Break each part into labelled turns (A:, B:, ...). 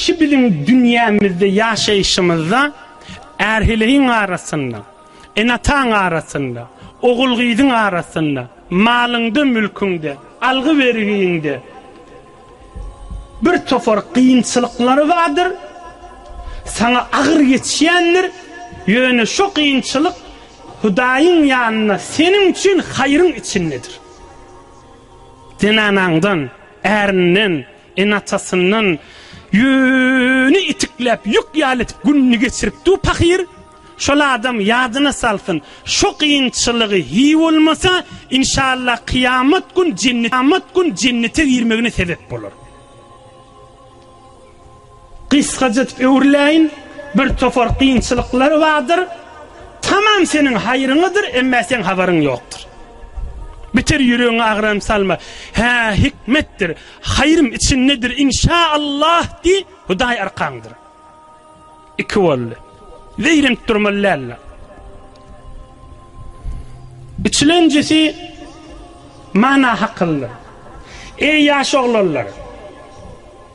A: Şu biziň dünýämizde ýaşaýşymyzda är-heleýiň arasynda, ene-ataň arasynda, ogul-gyzyň arasynda, malyňda-mülküňde, algy-bergiňde bir topar kynçylyklar bardyr, saňa agyr geçýändir, ýöne şo kynçylyk Hudaýyň ýanynda seniň üçin haýryň içindedir. Zenanaňdan, ärinden. Enatasyndan ýüni itikläp, ýük ýaly etip gününi geçiripdi-u pahyr. Şol adam ýadyna salsyn, şo kynçylygy hi bolmasa, inşallah kyýamat gün jennete girmegine sebep bolar. Gysgaja edip öwrüläýin, bir topar kynçylyklar bardyr, tamam seniň haýryňadyr, emma seň habaryň ýokdur. Beter ýüregiňe agram salma. Hä, hikmetdir, haýrym içindedir, inşa Allah diý, Hudaý arkaňdyr. Iki boldy. Zeýrenip durmaly däldir. Üçlenjisi mana hakyldyr. Eý ýaş oglanlar!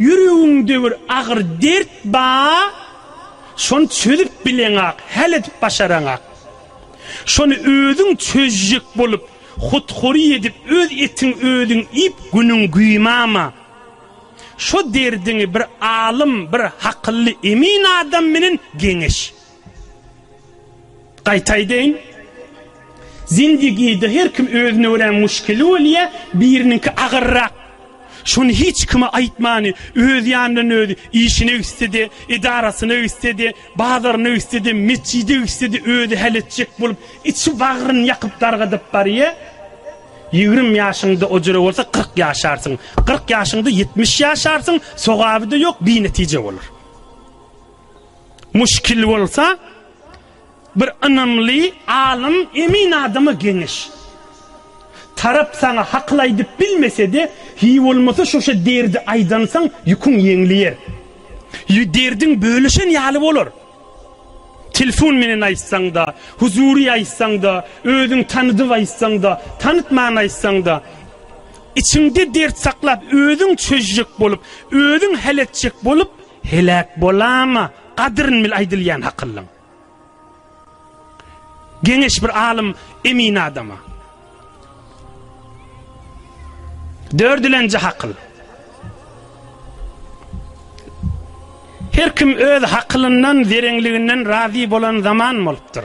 A: Ýüregiňde bir agyr dert ba, şony çözüp bileňak, häl edip başaraňak. Şony özüň çözjek bolup, hut-hury edip öz etiň özüň iýip günüň güýmama. Şo derdiňi bir alym, bir hakylly emin adam menen geňeş. Gaýta aýdaýyn, zindigide her kim özüne görä muşkili bolýa, biriniňki agyrrak. Şony hiç kime aýtmany, öz ýanyndan özi, işine gitse-de, edarasyna gitse-de, bazaryna gitse-de, metjide gitse-de özi häl etjek bolup, içi bagryny ýakyp dargadyp barýa. Ýigrimi ýaşyňda ojire bolsa kyrk ýaşarsyň, kyrk ýaşyňda ýetmiş ýaşarsyň, sogaby-da ýok, binetije bolar. Muşkil bolsa bir ynamly alym emin adama geňeş. Tarap saňa hakyl aýdyp bilmesede hiý bolmasa şoşa derdi aýdansaň ýüküň ýeňliýer. Ýü derdiň bölüşen ýaly bolar. Telfon menen aýtsaňda, huzury aýtsaňda, özüň tanydyp aýtsaňda, tanytman aýtsaňda içiňde dert saklap özüň çözjek bolup, özüň hal etjek bolup Heläk bolama gadyryn bil aýdylýan hakyllyň. Geňeş bir alym emin adama. Dördülenji hakyl. Her kim öz hakylyndan, zerenliginden razy bolan zaman bolupdyr.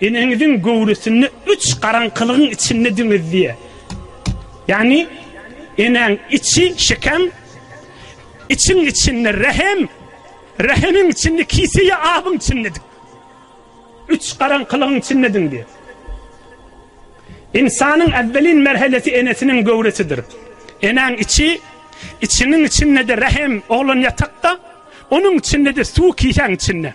A: Eneňiziň göwresinde üç garaňkylygyň içinde diňiz diýýär. Ýagny enäň içi, şekem, içiň içinde rähem, rähemiň içinde kise ýa abyň içinde diňiz. Üç garaňkylygyň içinde diňiz diýýär. Ynsanyň äwwelin merhelesi enesiniň göwresidir. Enäň içi, içiňiň içinde-de rähem, oglan ýatakda, onuň içinde-de suw kisäň içinde.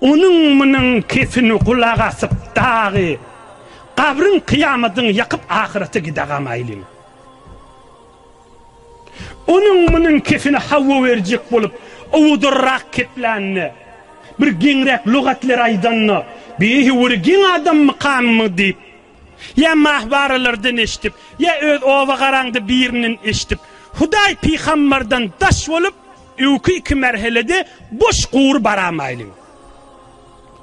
A: Onuň munuň kesini gulak asyp dagy gabryň kyýamadyňy ýakyp ahyrete gidagam aýlyň. Onuň munuň kesini hawa berjek bolup owadarrak keplände bir geňräk lugatler aýdanda beýhi bir geň adam mykammy diýip Ýa mahbaralardan eşidip, ýa öz oba garaňda birinden eşidip, Hudaý pygambardan daş bolup, öwki iki merhelede boş gury baramaýlyň.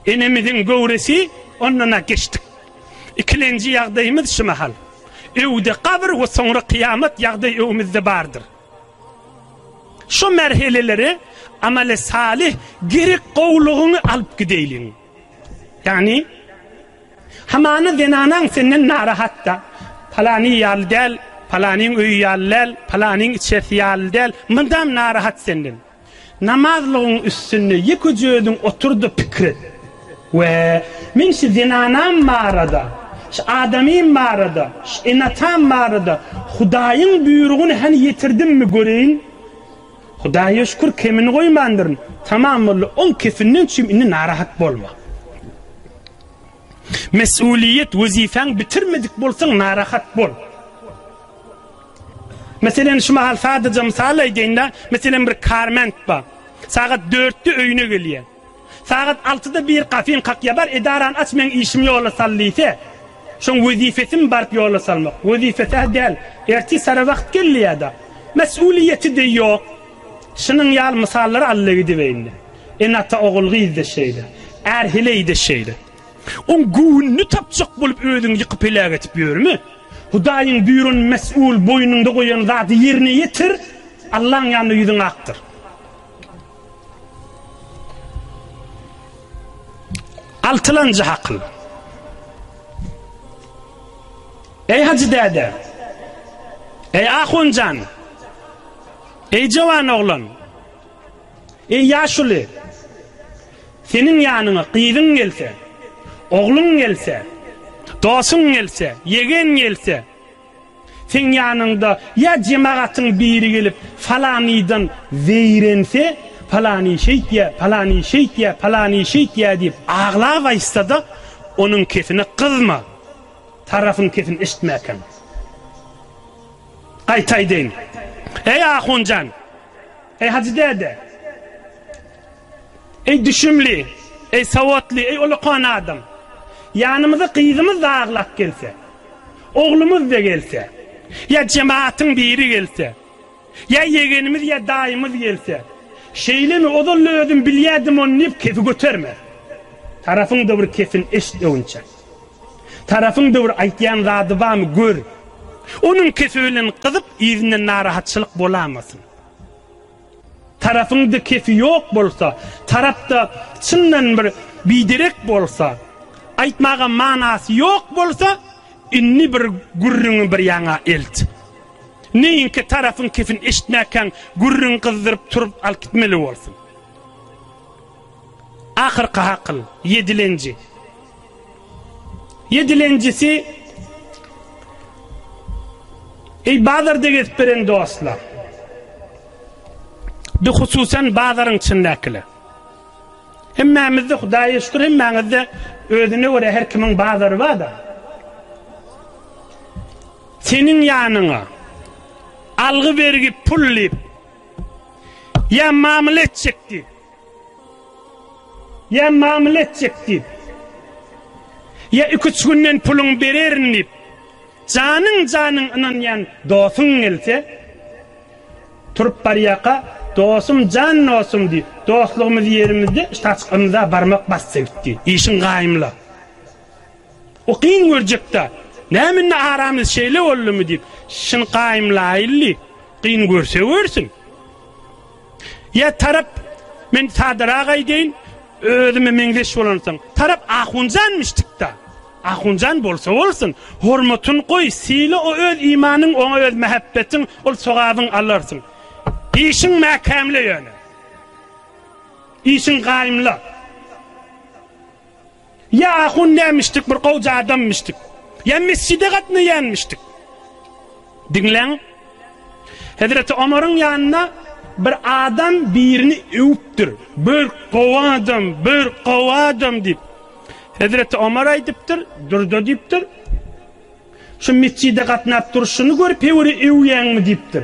A: Enemiziň göwresi ondan-a geçdik. Ikilenji ýagdaýymyz şu mahal. Öwde gabyr we soňra kyýamat ýagdaý öňümizde bardyr. Şu merheleleri amale salyh gerek gowlugyňy alyp gideýliň. Ýagny Hamana zenanaň senden narahat-da. Palany ýaly däl, palanyň öýi ýaly däl, palanyň içerisi ýaly däl, mydam narahat senden. Namazlygyň üstünde ýekeje özüň otur-da pikir et. Wä, men şu zenanam barada, şu adamym barada, şu ene-atam barada Hudaýyň buýrugyny hany ýetirdimmi göreýin? Hudaýa şükür kemini goýmandyryn. Tamam boldy, oň kefinden çüým indi narahat bolma. Mesuliýet wezipäň bitirmedik bolsaň narahat bol. Meselen şu mahal sadaja mysal aýdaýynda, meselen bir karment bar. Sagat dörtde öýüne gelýär. Sagat altyda bir kafin kakýar, bar edarany aç meň işim ýola sal diýse, şoň wezipesimi baryp ýola salmak? Wezipesi-hä däl, ertir sara wagt gelýär-de. Mesuliýeti-de ýok. Şunuň ýaly mysallary allegidibeýinde. Ene-ata ogul-gyzda şeýle. Är-heleýde şeýle. Oň göwnüni tapjak bolup özüňi ýykyp heläk edip ýörme. Hudaýyň buýran mes'ul boýnuňda goýan zady ýerine ýetir, Allaň ýanynda ýüzüň akdyr. Altylanjy hakyl. Eý Hajy däde! Eý Ahunjan! Eý jowan oglan! Eý ýaşuly! Seniň ýanyňa gyzyň gelse, ogluň gelse, dosuň gelse, ýegen gelse, seň ýanyňda ýa jemagatyň biri gelip falanydan zeýrense, Palany şeýtýä, palany şeýtýä, palany şeýtýä diýip aglap aýtsada, onuň kesine gyzma, tarapyň kesin eşitmäkäň. Gaýta aýdaýyn. Eý ahun jan! Eý hajy däde! Eý düşümli! Eý sowatly! Eý ulakan adam! Ýanymyza gyzymyz-da aglap gelse, oglumyz-da gelse, ýa jematyň biri gelse, ýa ýegenimiz ýa daýymyz gelse, şeýlemi, ozal-da özüm bilýädim ony diýip kefi göterme. Tarapyň-da bir kefini eşit öwünçek. Tarapyň döwür aýtýan zady bamy gör. Onuň kefi bilen gyzyp yzyndan narahatçylyk bolamasyn. Tarapyňda kefi ýok bolsa, tarapda çyndan bir biderek bolsa, aýtmaga manasy ýok bolsa, indi bir gürrüňi bir ýaňa elt. Neýinkä tarapyň kefini eşitmäkäň gürrüň gyzdyryp turup alyp gitmeli bolsun. Ahyrky hakyl, ýedilenji. Ýedilenjisi, Eý, bazarda gezip beren dostlar! Bihususan bazaryň içindäkiler! Hemmämizde, Hudaýa şükür, hemmäňizde özüne görä her kimiň bazary bar-da. Seniň ýanyňa algy-bergi pul diýip ýa mamla etjek diýip, Ýa mamla etjek diýip, ýa iki-üç günden puluňy bererin diýip, janyň-janyň ynanýan dostuň gelse, turup barýarka, dostum, jan dostum diýip, dostlugymyzy ýerimizde ştaçk ymza barmak basdy gitdi. Işiň gaýymla. O kyn görjek-dä. Näme indi aramyz şeýle boldumy diýip, şyny gaýymlaýyldy. Kyn görse görsün. Ýa tarap, men sadarak aýdaýyn, özüme meňzeş bolansoň, tarap ahunjanmyş tik-da. Ahunjan bolsa bolsun, hormatyn goý, syla o öz imanyň, oňa öz mähebbetin, ol sogabyn alarsyň. Işiň mäkämle ýöne. Işiň gaýymla. Ýa ahun nämişdik bir gowja adammişdik. Ýa mesjide gatnaýanmişdik. Diňläň. Hezreti Omaryň ýanyna bir adam birini öwüpdir. Bir gowy adam, bir gowy adam diýip. Hezreti Omar aýdypdyr, durda diýipdir. Şu metjide gatnap durşuny görüp Heweri öwýäňmi diýipdir.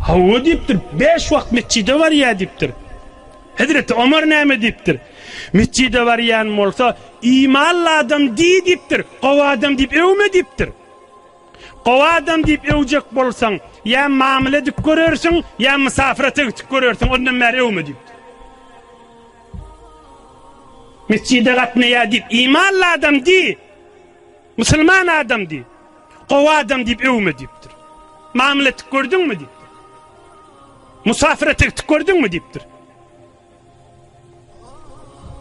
A: Hawa diýipdir, bäş wagt metjide barýa diýipdir. Hezreti Omar näme diýipdir. Metjide barýan bolsa imanly adam diý diýipdir, gowy adam diýip öwme diýipdir. Gowy adam diýip öwjek bolsaň, ýa mamyla edip görersiň, ýa mysafyrata gitip görersiň, ondan bäri öwme diýipdir. Metjide gatnaýa diýip imanly adam diý. Musulman adam diý. Gowy adam diýip öwme diýipdir. Mamul etdik gördüňmi diýipdir. Musafire tegdik gördüňmi diýipdir.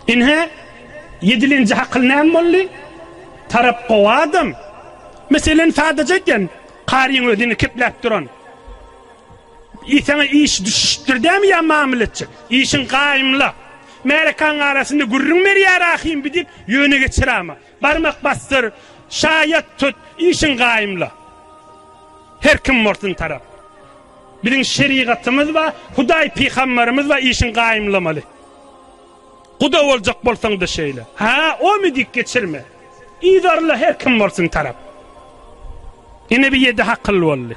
A: Inhe yedilinci hakyl näm bolly? Tarap gowy adam. Meselen sadaja etyen. Karyň özini kepläp duran. Iý saňa iş düşüşipdir dämi ýa mamla etjek. Işiň gaýymla. Märekaň arasynda gürrüň ber ýa rahym bi diýip ýöne geçir ama. Barmak basdyr, şaýat tut, işiň gaýymla. Her kim bolsun tarap. Biziň şerigatymyz bar, Hudaý pygambarymyz bar işiň gaýymlamaly. Guda boljak bolsaňda şeýle. Ha, omy diýip geçirme. Yzarla her kim bolsun tarap. Ine bi ýedi hakyl boldy.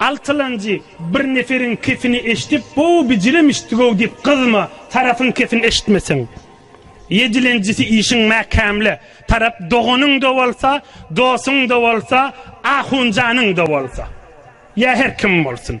A: Altylanjy, Bir neferiňkisini eşidip, bu bijilem eşitdi-ow diýip gyzma, tarapyňkisini eşitmeseň. Ýedilenjisi, Işiň mäkämle, tarap doganyň-da bolsa, dostuň-da bolsa, ahunjanyň-da bolsa. Ýa her kim bolsun.